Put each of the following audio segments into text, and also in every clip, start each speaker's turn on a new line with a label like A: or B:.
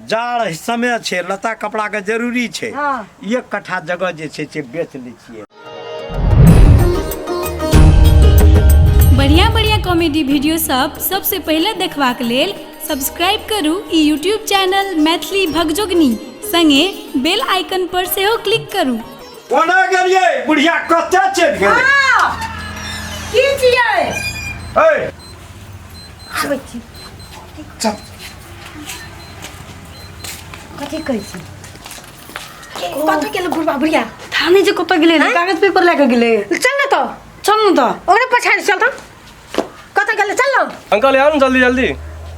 A: जाड़ है, समय छै लता कपड़ा के जरूरी छै एक कट्ठा जगह जे छै से बेच लै छियै बढ़िया बढ़िया कॉमेडी वीडियो सब सबसे पहले देखबाक लेल सब्सक्राइब करू ई यूट्यूब चैनल मैथिली भगजोगनी संगे बेल आइकन पर सेहो क्लिक करू कोना गेलियै बुढ़िया कतऽ चलि गेलै हाँ, की छियै ए आबै छी चल कथी कहै छी कथी केले बुढ़बा बुढ़िया थाने जे कतऽ गेलै रे कागज पेपर लए कऽ गेलै चल न तऽ चल न तऽ ओकरे पछाडि चल त कतऽ गेल चल ना अंकल आउ ने जल्दी जल्दी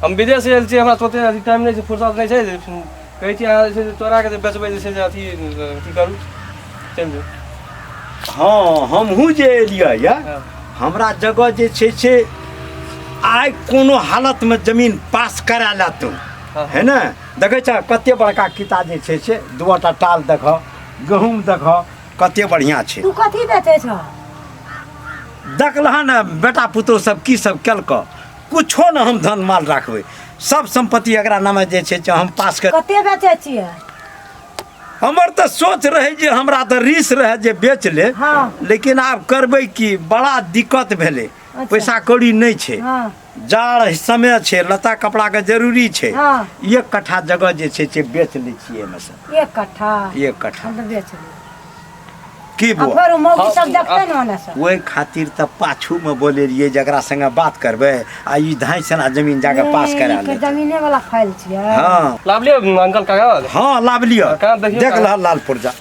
A: हम विदेश से आयल छी हमरा सोते अथी टाइम नहि छै फुर्सत नहि छै जे कहै छी अहाँ जे छै से चोरा के जे बेचबै जे छै से अथी अथी करू चलि जाउ हँ हमहूँ जे एलियै यऽ हँ। हमरा जगह जे छै से आइ कोनो हालतमे जमीन पास करा ला तू हँ। है ने देखै छह कते बड़का किता जे छै से दूटा टाल देखह गहूँम देखह कते बढ़िया छै तू कथी बेचै छौ देखलहन बेटा पुतहु सब की सब केलक कुछो ने हम धन माल राखबै सब संपत्ति एकरा नामे जे छै से हम पास कर कते बेचै छियै हमर तऽ सोच रहै जे हमरा तऽ रिस रहै जे बेच ले हँ। लेकिन आब करबै की बड़ा दिक्कत भेलै पैसा कौड़ी नहि छै हँ। जाड़ समय छै लता कपड़ा के जरूरी छै हाँ। एक कट्ठा जगह जे छै से बेच लै छियै एहिमे से एक कट्ठा एक कट्ठा हम तऽ बेच ली की आ बुआ फेर ओ मौगी सब देखतै ने ओने से ओहि खातिर तऽ पाछू मे बोले रहियै जकरा संगे बात करबै आ ई धाइ सना जमीन जाके पास करा ए, के लेतै जमीने वाला फाइल छियै हँ लाभ लियो अंकल कागज हँ लाभ लिअ कहाँ देखियौ देख कहाँ? लहल लाल पुर्जा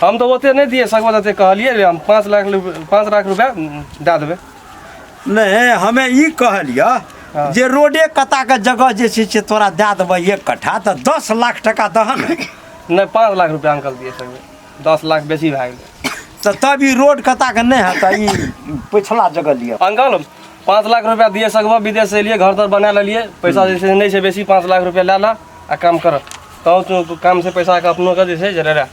A: हम तऽ ओते नहि दिए सकबै जते कहलियै रे हम पाँच लाख पाँच लाख रुपया दए देबै नहि हमे ई कहलियै हाँ। जे रोडे कता के जगह जे छै से तोरा दए देबै एक कट्ठा तऽ दस लाख टका दहन नहि पाँच लाख रुपया अंकल दिए सकबै दस लाख बेसी भए गेलै तऽ तब ई रोड कता के नहि हेतै ई पछिला जगह लिअ अंकल पाँच लाख रुपया दिए सकबह विदेश से एलिए घर तर बना लेलिए पैसा हम्म। जैसे नहीं है बेसी पाँच लाख रुपया ला ला आ काम कर तब तो, तो काम से पैसा के अपनो के जैसे जरे रह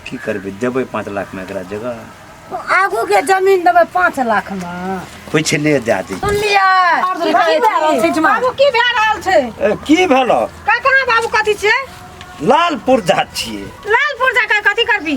A: की करबे देबे पाँच लाख में एकरा जगह आगू के जमीन देबे पाँच लाख में कुछ ले दे दी सुन लिया बाबू की भए रहल छै की भेलो का कहाँ बाबू कथी छै लालपुर जा छिए लालपुर जा के कथी करबी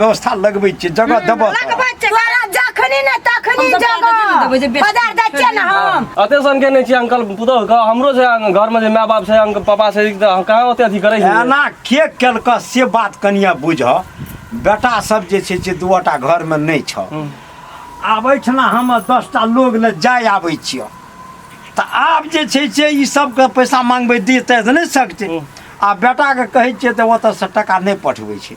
A: व्यवस्था लगबै छियै जगह देबऽ तऽ। लगबै छै तोरा जखनी ने तखनी हम सब पैदल जेबे देबै जे जगह बेच- बाजार जाइ छियै ने हम अते सन के नहि छी अंकल पुतोह के हमरो छै अं- घर में जे माय बाप छै अंकल पापा छै तऽ हम कहाँ ओते अथी करै छी एना के केलकऽ से बात कनिया बुझऽ बेटा सब जे छै से दूटा घर में नहि छऽ आब एहिठिना हम दसटा लोग ले जाय आबै छियऽ तऽ आब जे छै से ई सबके पैसा मांगबै देतै तऽ नहि सकतै आ बेटाके कहै छियै तऽ ओतऽसँ टाका नहि पठबै छै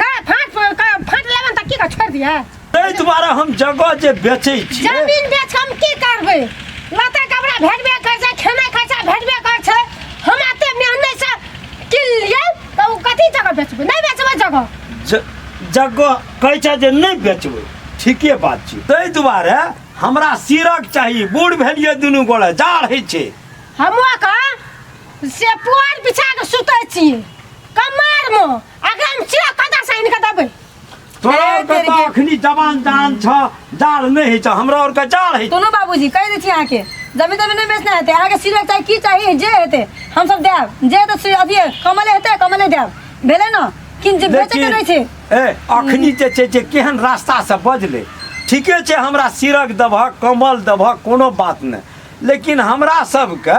A: ना फाट फाट लेबन त की का छोड़ दिया ताहि दुआरे हम जगह जे बेचै छी जमीन बेच के हम की करबै लता कपड़ा भेटबे कर छै खेनाइ खर्चा भेटबे कर छै हम एते मेहनत से किन लिए त उ कथी जगह बेचबै नहीं बेचबै जगह ज- जगह कहै छै जे नहि बेचबै ठीके बात छै ताहि दुआरे हमरा सिरक चाही बूढ़ भेलियै दुनू गोड़े जाड़ होइ छै हमो का से पुआर बिछा के सुतै छी कमार में अगर हम चिया कदा से इनका दबे तोरा ए, और के तेरी तो के- अखनी जवान जान छ जाड़ नहीं है छ हमरा और का जाड़ है दोनों बाबूजी कह दी थी यहाँ के जमीन जमीन नहीं बेचना हेते यहाँ के सिर चाहे की चाहिए जे हेते हम सब देब जे हेते से अभी कमले हेते कमले देब भेले न किन जे बेचे के नहीं छे ए अखनी जे छै जे केहन रास्ता से बजले ठीके छै हमरा सिरक दबह कमल दबह कोनो बात नहि लेकिन हमरा सबके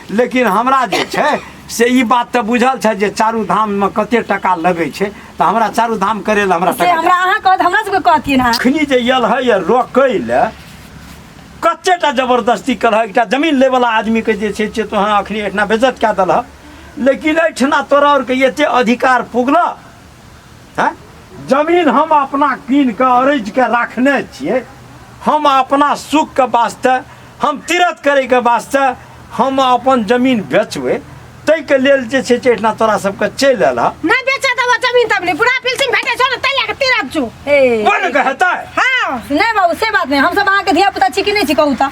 A: लेकिन हमरा जे छै से ई बात तऽ बुझल छै जे चारू धाममे कते टाका लगै छै तऽ हमरा चारू धाम करै लए हमरा से टाका हमरा अहाँ कहत हमरा सबके कहतियै ने अखनी जे यल है ये रोकै लए कते टा जबरदस्ती कर एकटा जमीन लै वाला आदमी के जे छै से तो अहाँ अखनी एहिठिना बेजत कए देलह लेकिन एहिठिना तोरा आरके एते अधिकार पुगलह हैं जमीन हम अपना कीन के अरज के रखने छिए हम अपना सुख के वास्ते हम तीरथ करे के वास्ते हम अपन जमीन बेचबे ताहि के लेल जे छै से एहिठिना तोरा सबके चलि आयल हँ नहीं बेचा देबो जमीन तब नहीं पूरा पिलसिंग भेटे छो ना तैया के तीरथ छु ए बोल के हेतै हाँ नहीं बाबू से बात नहीं हम सब अहाँ के धिया पुता छी कि नहीं छी कहू ता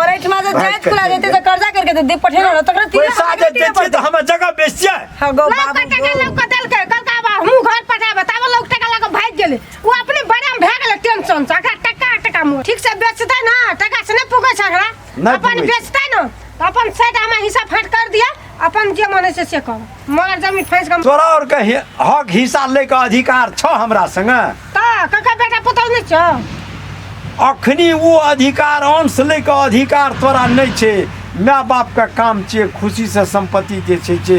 A: और एठमा से जायज खुला देते तो कर्जा करके दे दे पठे ना तकरा तीन पैसा जे दे छी त हमर जगह बेचिए हां गो लौका बाबू टका गो। लौका देल के कल का बा हमहू घर पठा बताबो लौक टका लगा भाग गेले वो अपने बड़ा में भाग गेले टेंशन से अखरा टका टका मो ठीक से बेचते ना टका से नहीं पुगे छकरा नहीं अपन पुगै छै। बेचते ना तो अपन सेट हमार हिस्सा फाट कर दिया अपन जे मने से से कहो मगर जमीन फैस के तोरा और के हि- हक हिस्सा ले के अधिकार छ हमरा संगे का कका बेटा पुतौ नै छ अखनी वो अधिकार अंश ले के अधिकार तोरा नहीं छे माय बाप के काम छे खुशी से संपत्ति जे छे छे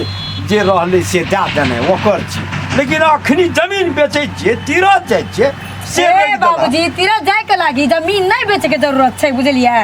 A: जे रहले से दे देने ओकर छी लेकिन अखनी जमीन बेचे छे तीरथ जाय छे से ए रोकि देलक। बाबूजी तीरथ जाए के लागी जमीन नहीं बेचे के जरूरत छै बुझलियै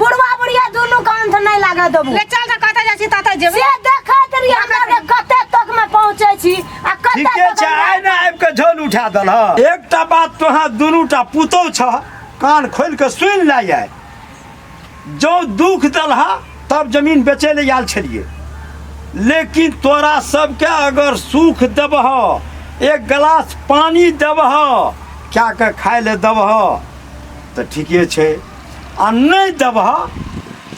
A: बुढ़वा बुढ़िया दुनू के अंत नहीं लागे देबू ले चल जा कतऽ जाइ छी ततऽ जेबै से देखैत रही हमरा रे कते तक में पहुंचे छी आ कते ठीके तक छै आइ ने आबि कऽ झोल उठा दल एकटा बात तोहाँ दुनूटा पुतहु छ कान खोलि कऽ सुनि लए आइ जँ दुख देलहा तब जमीन बेचै लए आयल छलियै लेकिन तोरा सबके अगर सुख देबह एक गिलास पानि देबह कए कऽ खाय लए देबह तऽ ठीके छै आ नहि देबह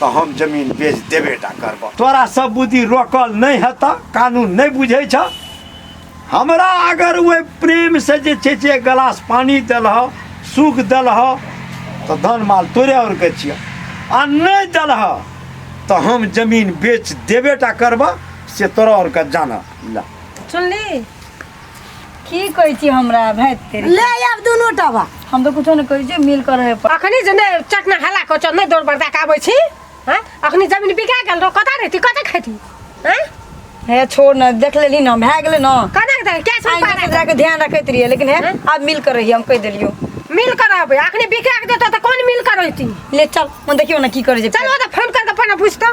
A: तऽ हम जमीन बेच देबे टा करबह तोरा सब बुद्धि रोकल नहि हेतह कानून नहि बुझै छ हमरा अगर ओहि प्रेम से जे छै से एक गिलास पानी देलह सुख देलह तऽ धन माल तोरे आओर के छियै आ नहि देलह तऽ हम जमीन बेच देबे टा करबह से तोरा आओर के जानह ला सुनली की कहै छी हमरा भाइ तेरी ले आब दुनू टा बा हम तऽ कुछो नहि कहै छी मिल कर रहे पर अखनी जे नहि चटना हल्ला कऽ चल नहि दौड़ बरदा के आबै छी हैं अखनी जमीन बिका गेल रहो कतऽ रहती कतऽ खेती हैं हे छोड़ न देख लेली न भए गेलै न कतऽ दे क्या सब आइ पारा तक जाके ध्यान रखैत रहिए लेकिन हे आब मिल कर रही हम कहि देलियो मिल कर आबै अखनी बिका के देतो तऽ कोन मिल कर रहती ले चल हम देखियो न की करै छै चल ओ तऽ फोन कर के अपन बुझतो